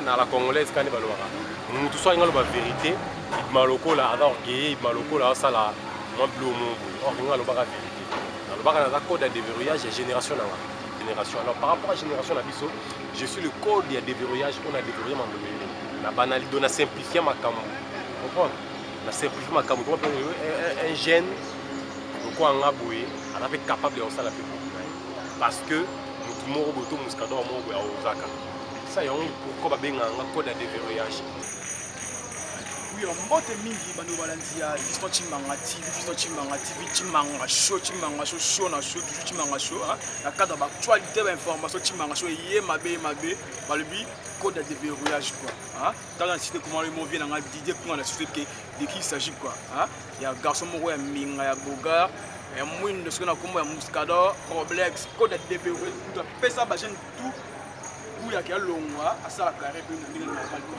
na la congolaise kani balobaka mutu soki alingi aloba verité ibima lokola aza orgueille ibima lokola asala mwa bilo mongo orgueille alobaka verité nalobaka naza code ya deverrouillage ya génération na ngai Génération. Alors par rapport à génération na biso, je suis le code ya déverrouillage on a déverrouillé Mandolele. Na banali dona simplifier makambo. Comprendre? Na simplifier makambo. Comment peut un jeune pourquoi nga boye, on a capable de ça la parce que mutu moko boye to musikador moko boye aozaka sa yango pourquoi babengaka nga code ya déverrouillage Yo mbote mingi bando balandi ya Fiston Chimanga TV, Fiston Chimanga TV, Chimanga Show, Chimanga Show, Show na Show, toujours Chimanga Show, hein. Na cadre ba actualité ba information Chimanga Show eye mabe mabe, balobi code de déverrouillage quoi, hein. Dans la cité comment le mauvais nanga Didier Kunga la cité que de qui il s'agit quoi, hein. Ya garçon moko ya minga ya bogar, ya mwindo soki na kombo ya Muscador, Roblex, code de déverrouillage, tout pesa ba jeune tout, kuya kia longwa asala carré pe ndenge normal quoi.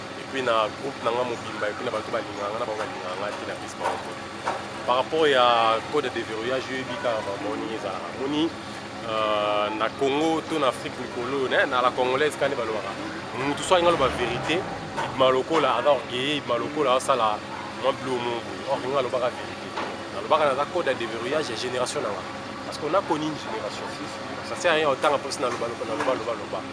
epuis na groupe na nga mobimba epuis na bato balingaka nga na bango balingaka nga te na pesi bango te par rapport ya code ya deverrouillage oyebi kaka bango ndenge ezalaka moni euh, na congo to na afrique mikolo na la congolaise kani balobaka motu so alingi aloba verité ibima lokola aza orgueille ibima lokola asala mwa bilo mo boye or nga alobaka verité nalobaka naza code ya deverrouillage ya génération na nga parce qu'on a connu une génération ça sert à rien otanga mposi naloba loba loba loba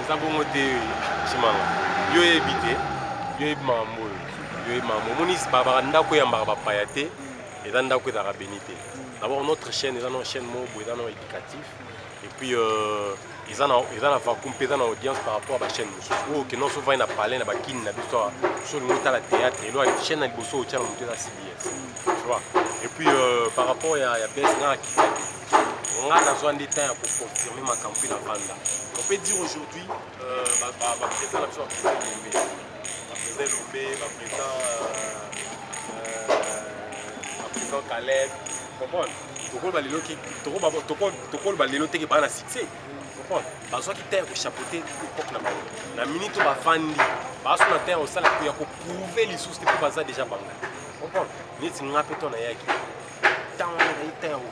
eza bongo te simanga yo oyebi te yo oyebi makambo oyo yo oyebi makambo omoni babaka ndako eyambaka bapaya te eza ndako ezalaka beni te d'abord notre chaîne eza no chaîne moko boye eza no éducatif et puis euh, eza na eza na vacuum mpe eza na audience par rapport ba chaîne mosusu oyo oh, kende oso vai na palais na bakini na biso awa so olingi otala théâtre elo chaîne na liboso otya na moto eza cbs tu vois et puis euh, par rapport ya, ya bes nga akitaki nga nazwa nde temps ya koconfirme makambo mpe na banda on peut dire aujourd'hui baprésident na biso baprésident elombe baprésident elombe baprésident baprésident caleb comprendre tokoloba lelo ki tokoloba lelo teke baa na succès comprendre bazwaki temps ya kochapote epoque na bango na minute oyo bafandi baso na temps ya kosala ya koprouve lisusu te mpo baza deja bango comprendre neti nga mpe to nayaki ntango nayi temps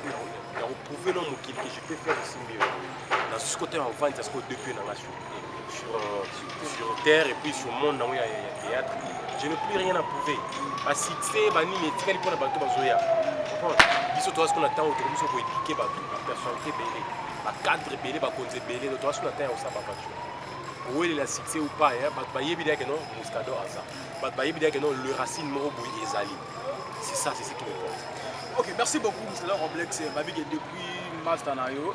ya koprouve no mokili que je peux faire aussi mieux nasusi kotema ovandi ya sikoyo depuis na nga sur, euh, sur terre et puis sur monde nango ya théâtre je ne plus rien à prouver basuccès banini etikali mpo na bato bazoya biso toa siko na ntango tokomi so koedike bato bapersonnalité ebele bacadre ebele bakonzi ebele no toa siko na ntango ya kosala bavature kowelela succès ou pas bato bayebi deyake no muscador aza bato bayebi deyake no le racine moko boye ezali c'est ça c'est ce qui me porte ok merci beaucoup muscador roblex babike depuis master na yo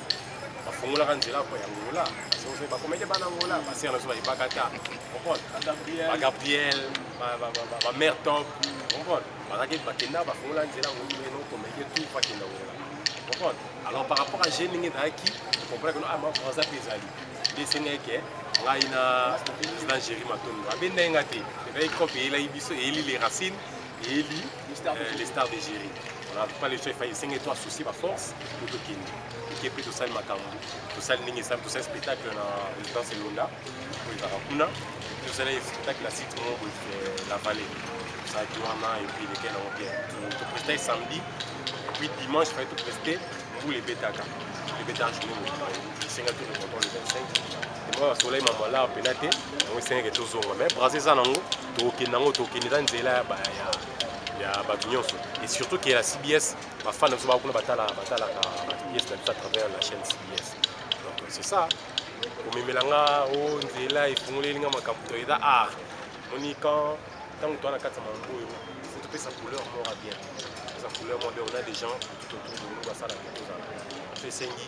bafungolaka nzela mpo ya ngola soki bakomede bana ngola basere na biso bayebaka ata bagabriel bamare top comprendre bazaki bakenda bafungola nzela ngolino komede tout bakenda ngola comprendre alors par rapport à je ndenge ezalaki comprendre keno ama français mpe ezali nde esengaki ke ngai na président géri matondo abendaki nga te ezalaki cope eyelaki biso eyeli les racines eyebi euh, les stars d'Egérie voilà pas le chef esenge to associer ba force po tokende eke mpe tosali makambo tosali ndenge esali tosali spectacle na résidence elonda oyo ezalaka kuna tosali spectacle na site moko euh, la vallée tosalaki wana epuis eleke nango bien topresta samedi epuis dimanche fai topreste mbula ebetaka ebetaka journée mobimba esenga to le contrôle le 25 moi basolai mamala mpena te yango esengeke tozonga mais brase eza nango tokokende yango tokokende eza nzela ya ba- ya- ya bato nyonso et surtout ke ya cbs bafana biso bakuna batala batalaka bacbs na biso à travers la chaîne cbs donc c'est ça komemela nga o nzela efungoleli nga makambo to eza art moni quand ntango toa na kati ya mambo oyo faut topesa couleur moko ya bien topesa couleur moko ya bien on a des gens tout autour de nous basala ke tozala so esengi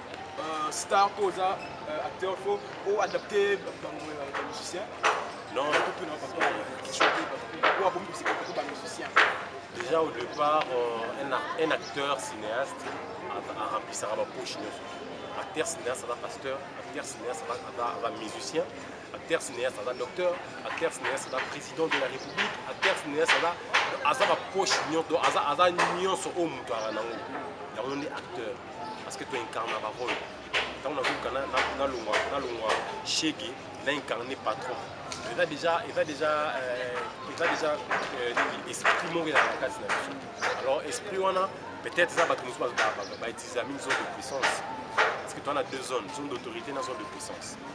Euh, star mpo oza euh, acteur fo o adapte bamusicien déjà au départ euh, un acteur cinéaste aremplisaka bapoche nyonso acteur cinéaste aza pasteur acteur cinéaste aza musicien acteur cinéaste aza docteur acteur cinéaste aza président de la république acteur cinéaste aza aza bapoche nyonso aza nyonso oyo moto aza nango yango nde acteur parce que tu incarne ba rôle ntango nazoka nalongwa nalongwa shege na incarne patron eza déjà eza déjà euh, eza déjà euh, esprit moko ezalaka kati na biso alors esprit wana peut-être eza bato mosusu bautilisami zone de puissance parce que toza na deux zones zone d'autorité na zone de puissance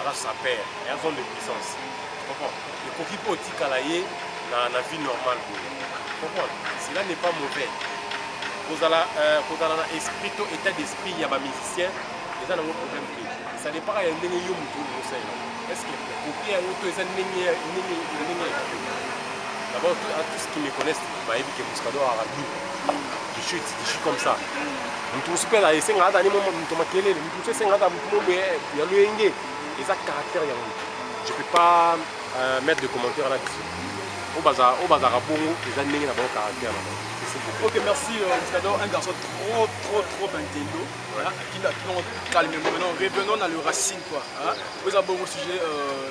aza saper et aza de puissance comprends ekoki mpe otikala ye na, na vie normale boye comprendre cela n'est pas mauvais kozala euh, kozala na esprit to état d'esprit ya bamusicien eza nango problème te ça dépaka ya ndenge yo moto okosalela est ce que okoki yango to eza ndenge ndenge ndenge ya d'abord à tous qui me connaissent bayebi ke muscado arabi je suis comme ça moto mosusu mpe esenga ata ni moto makelele moto esengaka mobe ya loyenge eza caractère ya moto je peux pas euh, mettre de commentaire là dessus oyo bazalaka bongo eza ndenge na bango caractère na bango Ok, merci euh, Muscador, un garçon trop, trop, trop intello. Voilà, qui l'a calmement. Maintenant, revenons à le racine, quoi. Hein. Vous avez un bon sujet. Euh,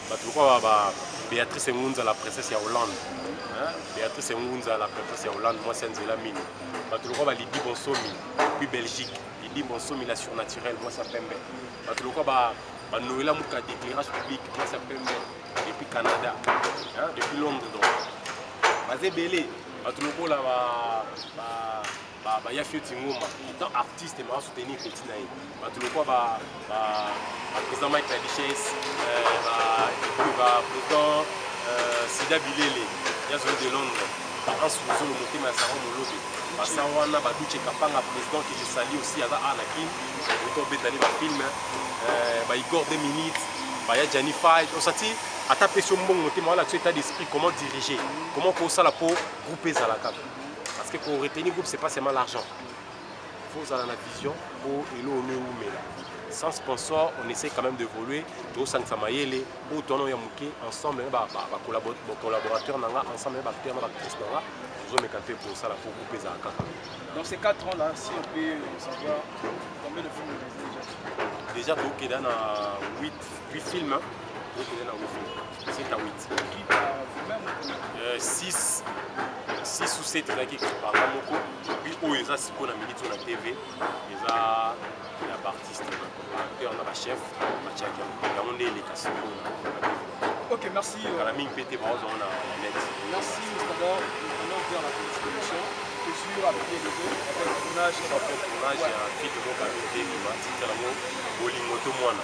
bato lokola ba Beatrice Engunza la princesse ya Hollande Beatrice Engunza la princesse ya Hollande mwasi ya nzela mino bato lokola ba Lydie Bonsomi puis Belgique Lydie Bonsomi la surnaturelle mwasi ya pembe bato lokola ba ba Noëlla Muka d'éclairage public mwasi ya pembe depuis Canada hein, depuis Londres donc baza ebele bato lokola ba, ba ba ba ya fioti ngoma tant artiste ma soutenir petit na ye ba tout le quoi ba ba ba président Mike la richesse euh, ba ba président euh, Sida Bilele ya zone de Londres ba ans zolo motema ya Sarah Molobe ba sa wana ba Duce Kapanga président que je salue aussi aza a na kin autant betani ba film euh, ba Igor 2 minutes ba ya Gianni Fight osati ata pesi yo mbongo motema wala tu état d'esprit comment diriger comment kosala po groupe ezala kaka parce que ko retenir groupe c'est pas seulement l'argent faut ozala na vision po elo ono ewumela sans sponsor on essaie quand même d'évoluer tosangisa mayele oyo toana ya moke ensemble na bacollaborateur na nga ensemble na baacteur na bactrice na nga tozomeka mpe kosala po groupe ezala kaka donc ces 4 ans là si on peut savoir combien de films déjà tookeda na 8 films tookeda na 8 films 7 à 8 euh, 6 6 ou 7 ezalaki ekipaka moko puis oyo eza sikoyo na minute oyo na tv eza ya baartiste acteur na bachef batiaki yango yango nde eleka sikoyo na Ok, merci. Euh, kala mingi mpe te baozwa na net merci mustador vraiment bien la contribution toujours avec les deux avec tournage tournage ya fite moko amite bima titre yango bolingo to mwana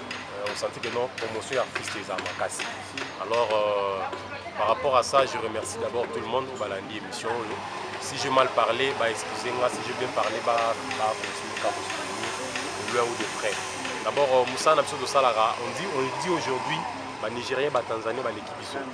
euh, osanti que non promotion ya artiste eza makasi alors euh, par rapport à ça je remercie d'abord tout le monde oyo balandi émission oyo si je mal parlé ba excuse nga si je bien parlé ba ba continue ka kosoutenir de loin ou de près d'abord euh, mosala na biso tosalaka on dit on dit aujourd'hui ba nigérien ba tanzanie baleki biso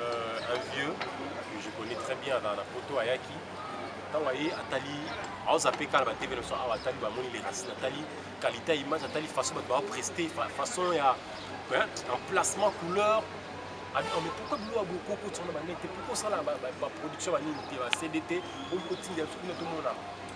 euh, un vieux que je connais très bien dans la poto ayaki ntango aye atali aoza mpe kala batv na biso awa atali bamoni les racines atali qualité ya image atali façon bato bapreste façon ya emplacement couleur ah, oh, mais pourquoi bino aboko okotisa na banete pourquoi osala baproduction banini te bacd te okotinda biso kuna tomona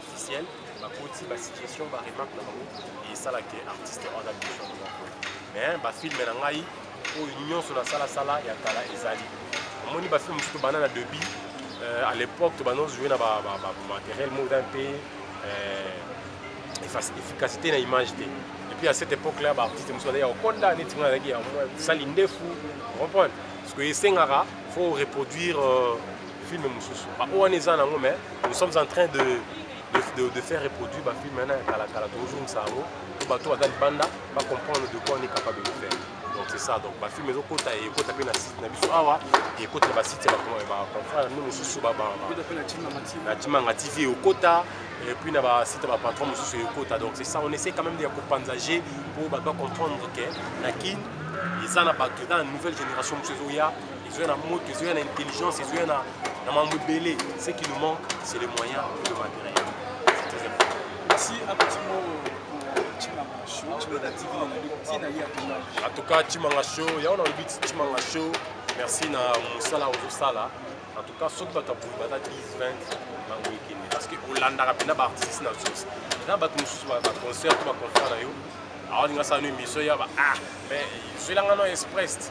officiel bakoti ba situation ba remarque na bango esala ke artiste wana biso moko mais ba film na ngai oyo nyonso na sala sala ya kala ezali omoni ba film mosusu bana na debut euh, à l'époque tobanda ozwi na ba, ba, ba, ba matériel moko eza mpe euh, efficacité na image te epuis à cette époque là baartiste mosusu bazali ya kokonda neti ngai nazalaki ya sali ndefu comprendre parce que esengaka faut reproduire euh, film mosusu ba oyo wana eza nango mais nous sommes en train de, de, de, de faire reproduire bafilme wana ya kalakala tozozongisa yango po bato baza libanda bacomprendre de quoi on est capable de faire donc c'est ça donc bafilme ezokota ekota mpe na site na biso awa ekota na basite ya baconfrère no mosusu na timanga tv ekokota et puis na basite ya bapatron mosusu ekokota donc c'est ça on essaie quand même ya kopanzage mpo bato bacomprendre ke na kin eza na bato eza na nouvelle génération mosusu ezoya ezoya na moto ezoya na intelligence ezoya na mambo ebele ce qui nous manque c'est les moyens et le matériel merci apetimo en tout cas chimanga show yango nalobi chimanga show merci na mosala ozosala en tout cas soki bato ya boye baza 10 20 bango ekende parce que olandaka mpena baartiste na source na bato mosusu baconcert to baconcert na yo awalinga sala no émission ya ba ah mais zwelanga no express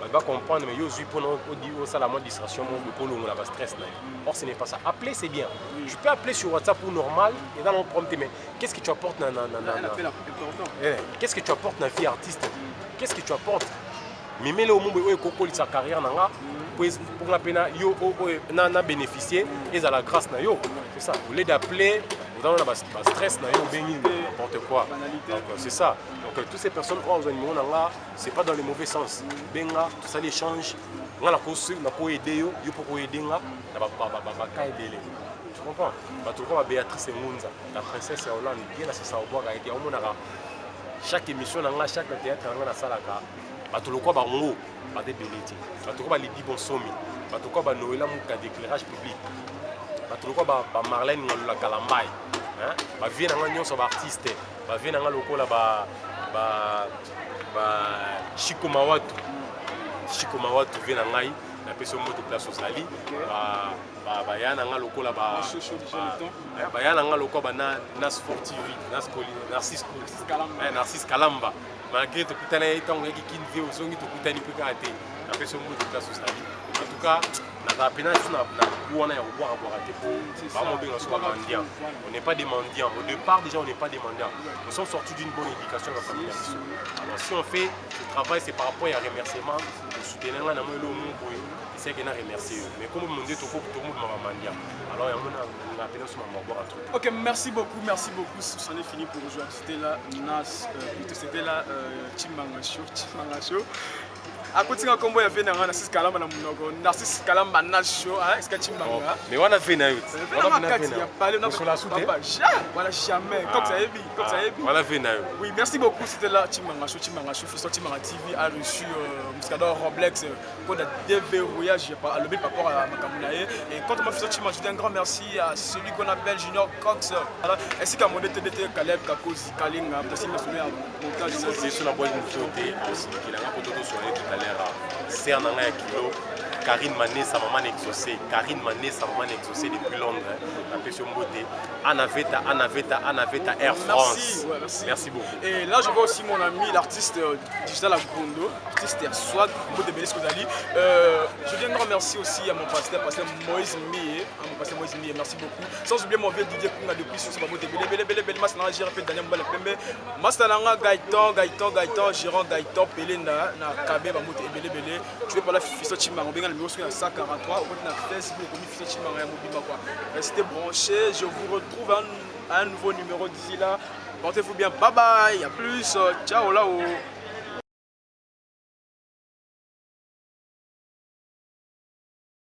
bato ba comprendre mais yo ozwi mpona osala mwa distraction moko mpo olongola ba stress na yo or ce n'est pas ça appeler c'est bien tu peux appeler sur whatsapp ou normal eza nango problème te mais qu'est-ce que tu apportes na, na, na, na, na... Eh, qu'est-ce que tu apportes na vie artiste qu'est-ce que tu apportes mimele oyo mombo oyo ekokolisa carrière na nga mpo nga mpe na yo oyo na bénéficier ezala grâce na yo c'est ça au lieu d'appeler dans la stress na yo obengi n'importe quoi donc c'est ça donc euh, toutes ces personnes oyo azwa nimero na nga c'est pas dans le mauvais sens benga tosali échange nga nakosi nakoyede yo yo mpo koyede nga na baka ebele tu comprends bato lokola béatrice engunza la princesse ya hollande ye na sisa obwaka ete aomonaka chaque émission na nga chaque théâtre na nga nasalaka bato lokola bango baza ebele te bato lokola balidi bonsomi bato lokola banoela muka d'éclairage public bato lokola bamarlene ngalola kalambai bavie na nga nyonso baartiste ba vie na nga lokola ba ba ba shiko mawatu shiko mawatu vie na ngai na pesi moto place ozali ba ba ba ya na nga lokola ba eh, ba ya na nga lokola ba na na sport tv na skoli narcisse kalamba eh, narcisse kalamba malgré tokutana ye ntango oyaki kin vie ozongi tokutani mpe kaka te na pesi moto place ozali en tout cas nazala mpena ti na bu wana ya kobwakabwaka te po bamobenga so bamandian on n'est pas des mendiants au départ déjà on n'est pas des mendiants nous sommes sortis d'une bonne éducation na famille ya biso alors si on fait ce travail c'est par rapport ya remerciement osoutenir ngai na moi elo mo boye eseke na remercie yo mais komo monde toko tomobima bamandia alors yango na mpena so mamabwaka trop ok merci beaucoup merci beaucoup c'en est fini pour aujourd'hui c'était là nas euh, c'était là euh, chimanga show chimanga show akotinga kombo ya vie na nga narcisse kalamba na munoko narcisse kalamba nasho esika cimbanga oh, mais wana vie na yo wana jamais ah. cox ayebi cox ah. ayebi wana vie na yo oui merci beaucoup c'était là cimbanga sho cimbanga sho fiso cimbanga tv a reçu euh, muscador roblex euh, mpo na déverrouillage alobi par rapport à makambo na ye et quand ma fiso cimbanga je dis un grand merci à celui qu'on appelle junior cox esika monde tebete caleb kakozi kalinga kasi masolo ya sœur na ngai ya kilo Karine Manessa maman exaucée Karine Manessa maman exaucée depuis Londres napesi yo mbote Anna Veta Anna Veta Anna Veta Air France merci, ouais, merci. merci beaucoup et là je vois aussi mon ami l'artiste euh, Digital Agondo artiste ya Swag mbote Belisco Dali euh, je viens de remercier aussi à mon pasteur pasteur Moïse Mie Amo passé Moïse Mie, merci beaucoup. Sans oublier mon vieux Didier Kunga depuis sur Babo de Bele Bele Bele Bele Mas na Jira pe Daniel Mbala Pembe. Mas na nga Gaëtan, Gaëtan, Gaëtan, Gérant Gaëtan Pelé na na Kabe ba moto Bele Bele. Tu veux pas la fiso Chimanga benga numéro 143 au na Facebook comme fiso Chimanga ya mobimba quoi. Restez branchés, je vous retrouve un, un nouveau numéro d'ici là. Portez-vous bien, bye bye, à plus, ciao là-haut.